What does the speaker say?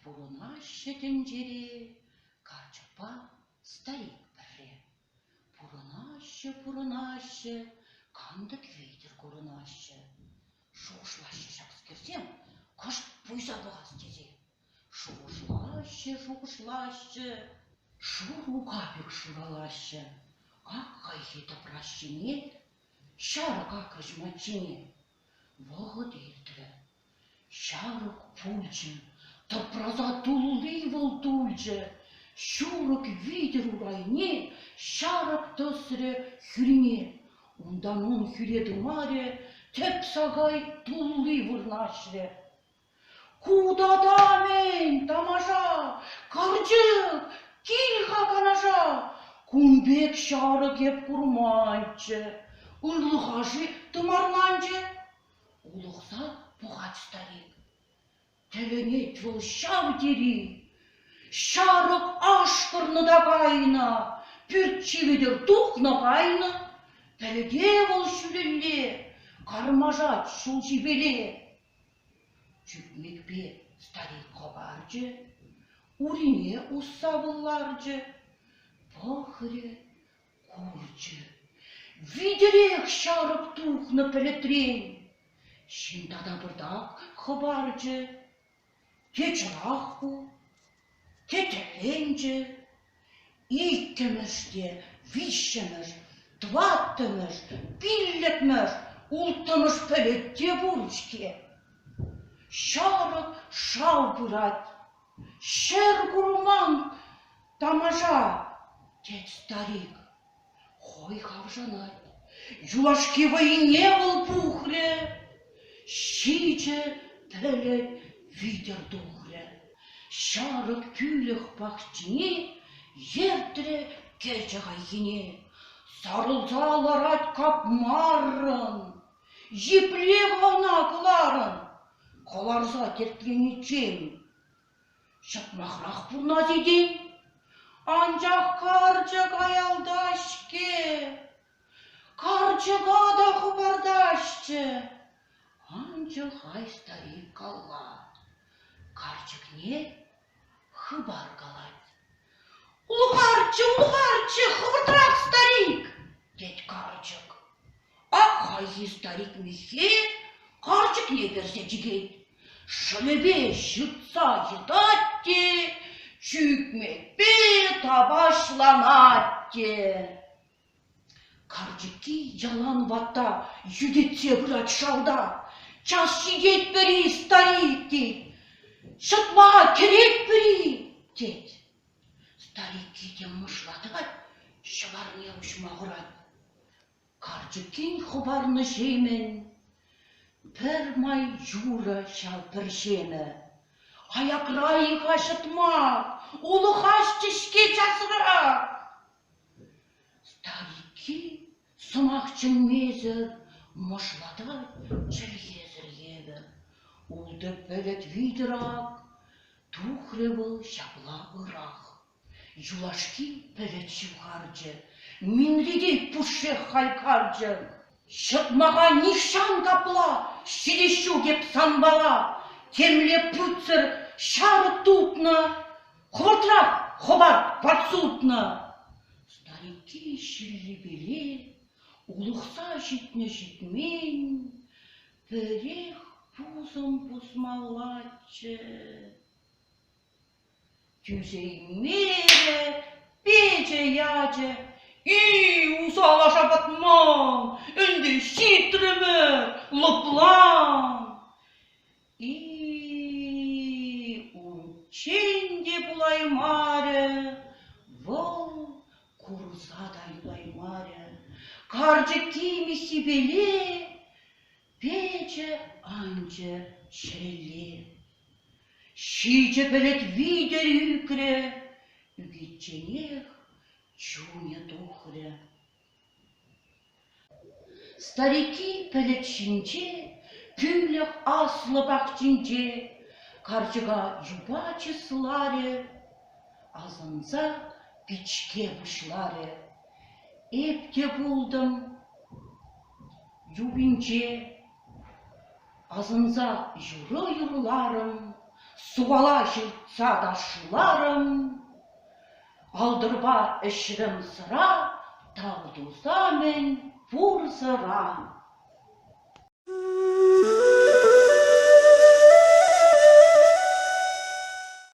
Пурӑнаҫҫӗ тӗнчере качӑпа старик пӗрре. Пурӑнаҫҫӗ, пурӑнаҫҫӗ, кантӑк витӗр курӑнаҫҫӗ. Шухӑшлаҫҫӗ ҫакскерсем, кӑшт пуйса пӑхас тесе. Шухӑшлаҫҫӗ, шухӑшлаҫҫӗ, шур мука пек шуралаҫҫӗ, какайхи тӑпраҫҫине, ҫарӑ какӑҫ маччине. Вӑхӑт иртрӗ. Ҫарӑк пулчӗ, тӑпрана тулли вӑл тулчӗ. Ҫурӑк витӗр урайне ҫарӑк тӑсрӗ хӳрине. Унтан ун хӳре тымарӗ тӗп сакай тулли вырнаҫрӗ. Ку тата-мӗн, тамаша, карчӑк, кил-ха Канаша, кун пек ҫарӑк эп курманччӗ. Ырлӑха-ши тымарланчӗ? Улӑхса пӑхать старик. Тӗлӗнет вӑл ҫав тери. Ҫарӑк ашкӑрнӑ та кайнӑ, пӳрт-ҫи витӗр тухнӑ кайнӑ. Тӗлте вӑл ҫӳлелле, кармашать ҫул ҫипеле. Чӳкмекпе старик хӑпарчӗ, урине усса пӑлларчӗ, пӑхрӗ, курчӗ: витӗрех ҫарӑк тухнӑ пӗлӗтрен. Ҫын тата пӑртак хӑпарчӗ. Кечӗрах ку, тӗтӗрленчӗ. Иккӗмӗш те виҫҫӗмӗш, тӑваттӑмӗш, пиллӗкмӗш, улттӑмӗш пӗлӗт те пур-ҫке. Ҫамрӑк шав пырать. Ҫӗр курман, тамаша, тет старик. Хӑй хавшанать. Юлашки вӑйне вӑл пухрӗ, ҫичӗ тӗлӗк витӗр тухрӗ, ҫарӑк тӳлӗх пахчине ертрӗ кӗчӗ хайхине. Сарӑлса ларать капмаррӑн, епле хӑвана кӑларӑн, кӑларса тертлениччен. Ҫаплахрах пурӑнать этем. Анчах карчӑк аялтаҫ-ҫке. Карчӑка та хӑпартаҫҫӗ. Анчах хай старик калла. Карчӑкне хыпар калать. Ухарччӗ, ухарччӗ, хӑвӑртрах, старик, тет карчӑк. Ак хайхи старик миххе карчӑкне кӗрсе чикет, шӑмӗпе ҫыртса йӑтать те, чӳкмекпе тапаҫланать те. Карчӑкки ялан ватта йӳтӗтсе пырать шалта. Час ҫитетпӗр-и, старик? тет. Ҫӑтма кӗретпӗр-и? тет. Старикки те мӑшла тӑкать, ҫӑварне уҫма хурать. Карчӑккин хӑпарнӑ ҫемӗн пӗр май юрӑ ҫав пӗр ҫемӗ. Аякра-и-ха ҫӑтма, улӑхаҫҫӗ-ҫке часрах. Старикки сӑмах чӗнмесӗр мӑшлатать чӗлхесӗр евӗр. Ултӑ пӗлӗт витӗр ак тухрӗ вӑл ҫапла ырах. Юлашки пӗлӗт ҫывхарчӗ, минре те пушшех хайкарчӗ. Ҫӑтмаха нихҫан капла ҫитес ҫук эп санпала, темле путсӗр ҫарӑк тупнӑ. Хӑвӑртрах хӑват подсутнӑ! Старики ҫиллипеле улӑхса ҫитнӗ-ҫитмен пӗрех пусӑм пусмаллаччӗ. Тӳсеймерӗ пичӗ ячӗ. И, усала шапатман, ӗнтӗ ҫитрӗмӗр, лӑплан! И-и-и, унччен те пулаймарӗ вӑл, курӑса та юлаймарӗ, карчӑкки миссипеле печӗ, анчӗ ҫӗлле. Ҫичӗ пӗлӗт витӗр ӳкрӗ, ӳкичченех чунӗ тухрӗ. Старики пӗлӗт ҫинче, тӳлӗх аслӑ пахчинче карчӑка юпа чысларӗ, асӑнса пичке пуҫларӗ: «Эп те пултӑм юпинче, асӑнса юрӑ юрларӑм, сувала ҫыртса ташларӑм. Алтӑрпа ӗҫрӗм сӑра, тав туса-мӗн пурсӑра.